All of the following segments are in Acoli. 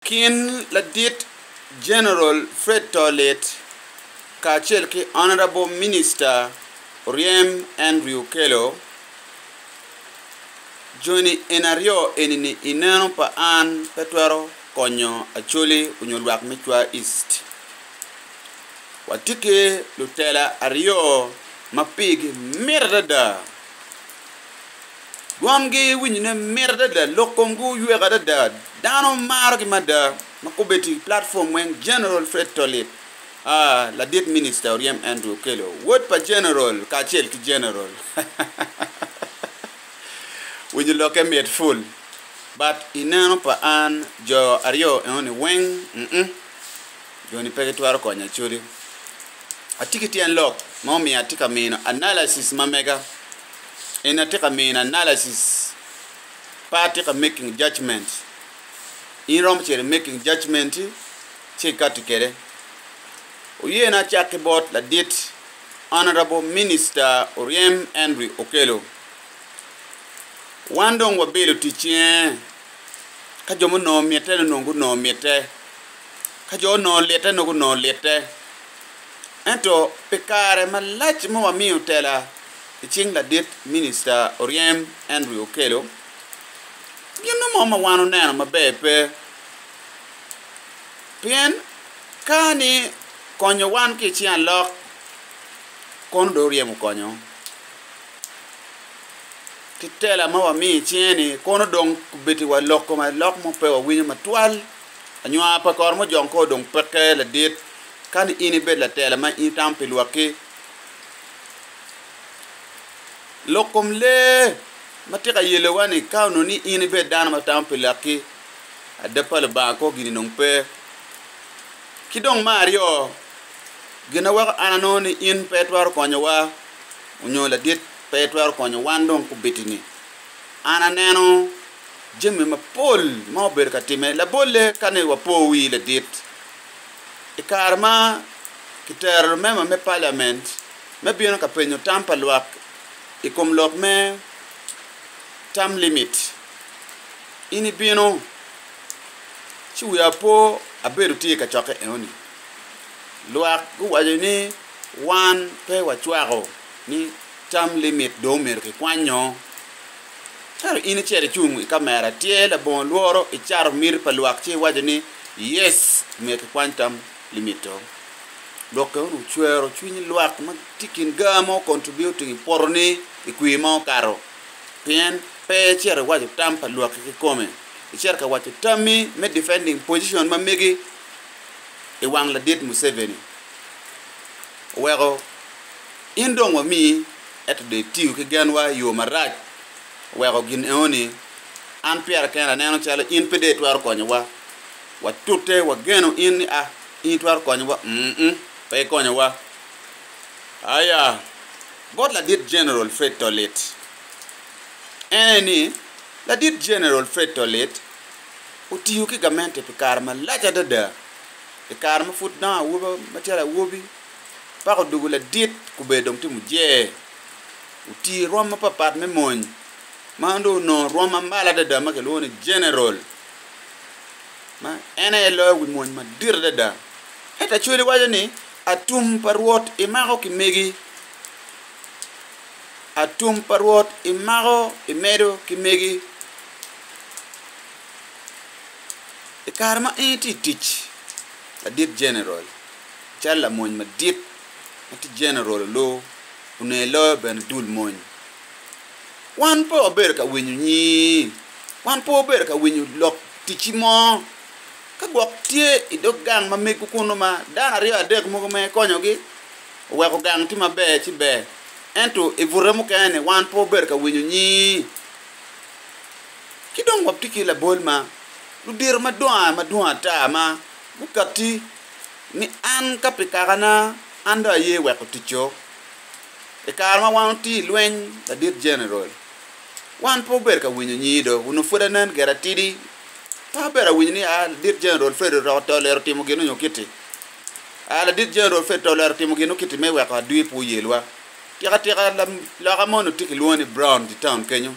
Kin ladit General Fred Tolit kacel ki Honourable Minister Oryem Andrew Okello, Joni en aryo enini i neno pa an pe twero konyo Acholi onyo lwak me Cwa East. Watye ki lutela aryo ma pigi mit adada. Dwomgi winyone mit adada, lok komgi oywek adada, dano marogi mada, ma kobbe ti i platform weng General Fred Tolib, aa, ladit minista oryem Andrew Okello, wod pa General kacel ki General, winyo lokke mit ful, but i neno pa an jo aryo enoni weng, mm. Joni pe gitwero konya codi. Atye ki tyen lok ma omiyo atye ka mino analysis ma mega. En atye ka mino analysis pe atye ka making judgement. In iromo cito i making judgement-ti ci ikati kwede. Wuyena acak ki bot ladit Honourable Minister Oryem Henry Okello. Wan dong wabilo ticce ka jo ma onongo mitte dong onongo gunongo mitte. Ka jo onongo lite nongo gunongo lite, ento pi kare malac ma wamiyo tela i cing ladit Minicita Oryem Andrew Okello, gin mo ma wan oneno maber pe. Pien ka ni konyo wan ki i cing alok, kono dong oryemo konyo ki tela ma wamiyo i cinge ni kono dong kubitiwa loko alok mo pe wawinyo matwal. Anywa pa kor mujong kor dong peke ladit ka ni in ibed latela ma in itamo pi lwakki. Lok kom lee ma tye ka yelowa ni ka onongo ni in ibed dano ma tamo pi lwakki, adab pa Lubanga kwo gini dong pe. Ki dong me aryo, gin ma weko an anongo ni in pe itwero konyowa nyo ladit pe itwero konyo wan dong kubiti-ni, an aneno jami mapol ma obedo ka timme. Labolle, ka ni wapo wi ladit, i kare ma kitero lumema me paliament me bino ka penyo tam pa lwak i kom lok me term limit, in ibino, ci wiya opo abedo tye i kacokke enoni. Lwak guwaco ni wan pe wacwako ni term limit dong omyero kikwanyo. Ento in icito icung i kamera, tyer labongo lworo, icato miti pa lwak ci iwaco ni, 'Yes! Myero kikwany tam limito. Lwokke wunu wucwero cwiny lwak ma tye i kin gaa mo contributing i poto-ni i kwir ma okato. Pien pe icito iwaco tam pa lwakki kikome, icito ka waco tammi me defending position ma megi i wang ladit Museveni. Oweko. In dong wamii, ento dong itiyo ki genwa i yo marac weko gin enoni. An pira kena aneno calo in pe dong itwero konyowa. Watute wageno in ni a in itwero konyowa? Um-m, pe ikonyowa. Aya, bot Ladit Jeneral Fred Tolit. En aye ni, Ladit Jeneral Fred Tolit otiyo ki gamente pi kare malac adada i kare ma pud dong awobi macalo awobi. Pako dugu ladit kubedo dong tye mujer. Otii rwom mapapat me mony ma dong onongo rwom ma malo adada ma kilwongo ni General ma en aye loyo wi mony madit adada. Ento Acholi waco ni atum pa Rwot imako ki megi, atum pa Rwot imako imedo ki megi. I kare ma in itye i tic, ladit General, Cal lamony madit ma tye Jeneral Oloo ononge loyo bene dul mony. Wan pe wabedo ka winyo nyii, wan pe wabedo ka winyo lok ticci mo. Ka gwok tye i dog gang ma mego kunu ma dano aryo adek mogo ma ikonyogi oweko gang tye maber ci ber, ento i bute mukene-ni wan pe wabedo ka winyo nyii. Ki dong watye ki labol ma ludito madongo madwong ata ma gukatti. ni an ka pi kakana an dong aye weko ticco. I kare ma wan watye i lweny, Ladit Jeneral, wan pe obedo ka winyo nyido, onongo pwod anen gire atidi. Pe abedo ka winyo ni aa, Ladit Jeneral Fred Oroko to olero timo gin nyo kitti. Aa, Ladit Jeneral Fred to olero timo gin nyo kitti me weko adwi pe oyelwa. Tika tika loka moni watye kilwongo ni Brown i taun kenyo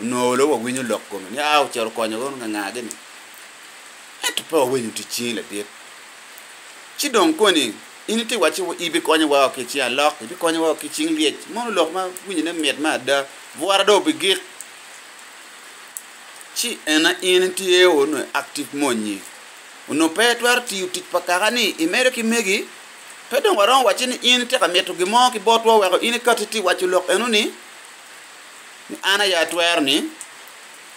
onongo olo wawinyo lok kome ni aa ocito okonyo nganga gini. Ento pe wawenyo tic cingi ladit. Ci dong koni in iti wacci ibikonyo wao ki icing alok, ibikonyo wao ki icing lyec, mono lok ma winyo ne mit ma ada, bwora dong bigik. Ci ena in itye o nwe active monyi onwe pe itwero tiyo tic pa kaka ni imedo ki megi, pe dong waromo wacci ni in iti ka mito gin mo ki botwa weko in ikati iti waco lok eno ni, ni an aye atwero ni.